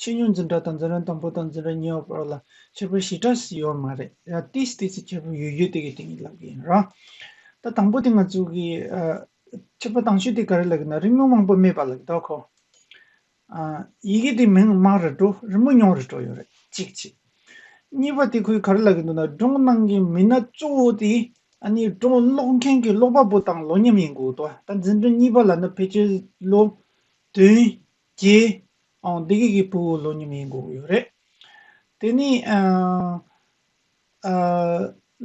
ཕྱི་ཉོན་འཛིན་གྲགས་དང་འཛིན་རན་དང་པོ་དང་འཛིན་རན་ཉེ་བ་བར་ལ་ཁྱད་པར་བཞི་གྲགས་སུ་ཡོད་མ་རེད་ཡ་ཏིས་ཏིས་ཀྱི་ཁྱད་པར་ཡོད་ཡོད་དེ་གའི་དེང་གི་ལབ་གི་ཡིན་རང་ད་དང་པོ་དེ་ང་ཚོ་གི་ཁྱད་པར་དང་ཤོས་དེ་ག་རེ་ལབ་གི་ན་རི་མོ་མང་པོ་སྨྲས་པ་ལབ་གི་འདོག་གོ། ཡི་གེ་དེ་མིང་དམངས་རེ་དྲོ་རི་མོ་ཉུང་རེ་དྲོ་ཡོད་རེད་གཅིག་གཅིག། གཉིས་པ་དེ་ཁོས་ག་རེ་ལབ་གི་འདུག་ན་སྒྲུང་ནང་གི་མི་སྣ་གཙོ་བོ་དེ་ཨ་ནི་སྒྲུང་ཀློག་མཁན་གྱི་ཀློག་པ་པོ་དང་ལོ་མཉམ་ཡིན་དགོས་འདུག་ད་འཛིན་གྲྭ་གཉིས་པ་ལ་ན་ཕལ་ཆེར་ལོ་དོན་ཀྱེ། ཨོང་སྡེ་དགེ་ཀྱི་བུ་བོ་ལོ་ཉི་མའི་མགོ་བོ་ཡོད་རེད། དེ་ནས།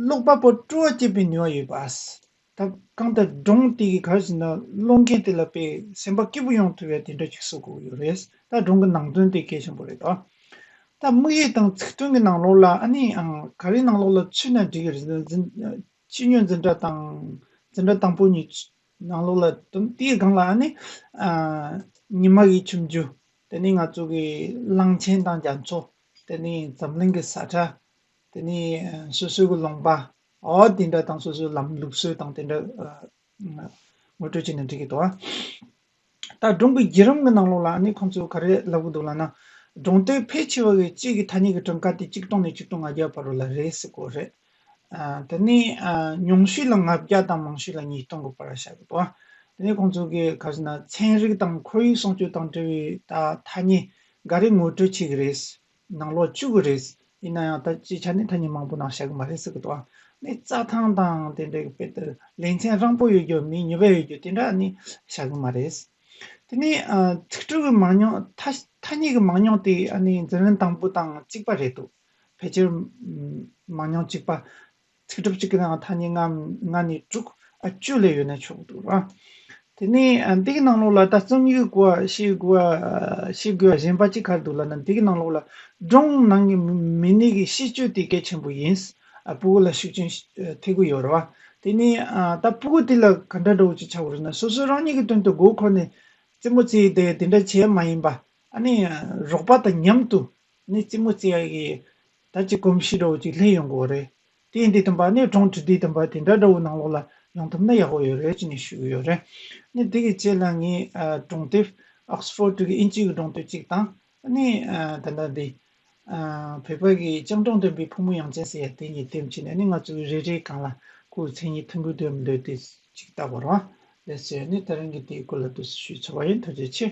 ཀློག་པ་པོ་སྤྲོ་བ་སྐྱེད་པའི་ནུས་བ་ཡོད་པ། ད་གང་ལྟར་སྒྲུང་དེ་གའི་གར་བཞིན་ན་ཀློག་མཁན་དེ་ལ་དཔེ་སེམས་པ་སྐྱིད་པོ་ཡོང་ཐུབ་ཡ་དེ་འདྲ་ཞིག་བཟོ་དགོས་ཡོད་རེད། ད་སྒྲུང་གི་ནང་དོན་དེ་གལ་ཆེན་པོ་རེད་ད། ད་དམིགས་ཡུལ་དང་ཚིག་དོན་གྱི་ནང་ལོགས་ལ་ཨ་ནི་ག་རེའི་ནང་ལོགས་ལ་ཆུད་ན་འགྲིག་ཅི་ཉོན་འཛིན་གྲྭ་དང་འཛིན་གྲྭ་དང་པོ་གཉིས་ནང་ལོགས་ལ་དུམ་དེའི་སྒང་ལ་ནི། ཉི་མ་ཡི་ཁྱིམ་རྒྱུད་དེ་ནི་ང་ཚོ་གི་གླང་ཆེན་དང་རྒྱ་མཚོ། དེ་ནི་འཛམ་གླིང་གི་ས་ཁྲ། དེ་ནི་སོ་སོའི་གི་ལུང་པ། འོ་དེ་འདྲ་དང་སོ་སོའི་ལམ་ལུགས་སྲོལ་དང་དེ་འདྲ། ངོ་སྤྲོད་བྱས་ནས་འབྲི་གི་འདུག། ད་སྒྲུང་གི་བརྒྱུད་རིམ་གྱི་ནང་ལོགས་ལ་ནི་ཁོང་ཚོས་ག་རེ་ལབ་གི་འདུག་ལ་ན། སྒྲུང་དེའི་ཕལ་ཆེ་བ་བའི་དཔྱིད་ཀྱི་ཐ་སྙད་ཀྱི་བྲིམ་ཁ་དེ་ཆིག་སྟོང་ནས་ཆིག་སྟོང་ང་བརྒྱ་བར་རུ་ལ་རེད་ཟེར་དགོས་རེད། དེ་ནི་ཉུང་ཤོས་ལ་ང་བརྒྱ་དང་མང་ཤོས་ལ་ཉིས་སྟོང་གི་བར་བྱ་དགོས་འདུག་དེ་ནི་ཁོང་ཚོ་གིས་ག་ཟེར་ན་ཚན་རིག་དང་ཁོར་ཡུག་སྲུང་སྐྱོབ་དང་འབྲེལ་བའི་ཐ་སྙད་འགའ་རེ་ངོ་སྤྲོད་བྱེད་ཀྱི་རེད། ནང་ལོག་བཅུག་གི་རེད། ཡིན་ན་ཡང་ད་ཅི་ཆ་ནས་ཐ་སྙད་མང་པོ་ནང་བཞག་གི་མ་རེད་ཟེར་གི་འདུག་ནི་རྩྭ་ཐང་དང་དེ་འདྲའི་དཔེ་དེར་ལེ་ཚན་རང་པོ་ཡོད་རྒྱུ་མི་ཉུ་བའི་ཡོད་རྒྱུ་དེ་འདྲ་ནི་བཞག་གི་མ་རེད། དེ་ནི་ཚིག་འབྲུ་གི་མང་ཉུང་ཐ་སྙད་གི་མང་ཉུང་དེ་འཛིན་རིན་དང་པོ་དང་གཅིག་པ་རེད་འདུག་ཕལ་ཆེར་མང་ཉུང་གཅིག་པ། ཚིག་གྲུབ་གཅིག་གི་ནང་ཐ་སྙད་ལྔ་ནས་དྲུག་བཅུ་ལས་ཡོད་ན་ཆོག་འདུག་ལ། དེ་ནས་འདི་གི་ནང་ལོགས་ལ་ད་རྩོམ་ཡིག་གོ་ཤེས་དགོས་པ་གཞན་པ་གཅིག་གར་འདུག་ལ་ནི་འདི་གི་ནང་ལོགས་ལ་སྒྲུང་ནང་གི་མི་སྣའི་གི་གཤིས་སྤྱོད་དེ་གལ་ཆེན་པོ་ཡིན། སྤུ་གུ་ལ་ཤུགས་རྐྱེན་ཐེབས་ཀྱི་ཡོད་རེད་བ། དེ་ནས་ད་སྤུ་གུ་དེ་ལ་ག་འདྲ་འགྲོ་འོས་ཅིག་བྱ་དགོས་རེད་ན་སོ་སོའི་རང་ཉིད་ཀྱི་དོན་དུ་མགོ་འཁོར་ནས་རྩེད་མོ་རྩེ་དེ་དེ་འདྲ་བྱས་མ་ཡིན་པ། ཨ་ནི་རོགས་པ་དང་མཉམ་དུ་ནས་རྩེད་མོ་རྩེ་ཡ་གི་ད་ཅི་གོམས་གཤིས་འདྲ་བོ་ཅིག་ལྷན་ཡོང་གོ་རེད། དེ་འདི་དམ་པ་ནས་གྲོང་ཁྲི་འདི་དམ་པ་དེ་འདྲ་འདྲ་བོ་ནང་ལོགས་ལ་ཡོང་ཐུབ་ན་ཡག་པོ་ཡོད་རེད་ཅེས་ནས་ཞུས་ཡོད་རེད། ནས་དེ་གི་ཆེད་ལ་ངས་གྲོང་དེབ Oxford གི་དབྱིན་ཇིའི་གྲོང་དེབ་ཅིག་དང། ནས་ད་ལྟ་འདི། བོད་པ་གི་སྤྱང་གྲོང་སྟོན་པའི་ཕོ་མོ་ཡང་ཅན་ཟེར་ཡ་དེ་གཉིས་དེབ་ཅིག་ནས་ནས་ང་ཚོ་གི་རེ་རེའི་གང་ལ་ཁོའི་མཚན་ཉིད་མཐོན་པོའི་དོན་མི་འདོད་དེ་ཅིག་བལྟ་བར་བ་ལས་ཟེར་ནས་ད་རིང་གི་དེའི་སྐོར་ལ་ལྟོས་སུ་ཞུས་ཚར་བ་ཡིན་ཐུགས་རྗེ་ཆེ།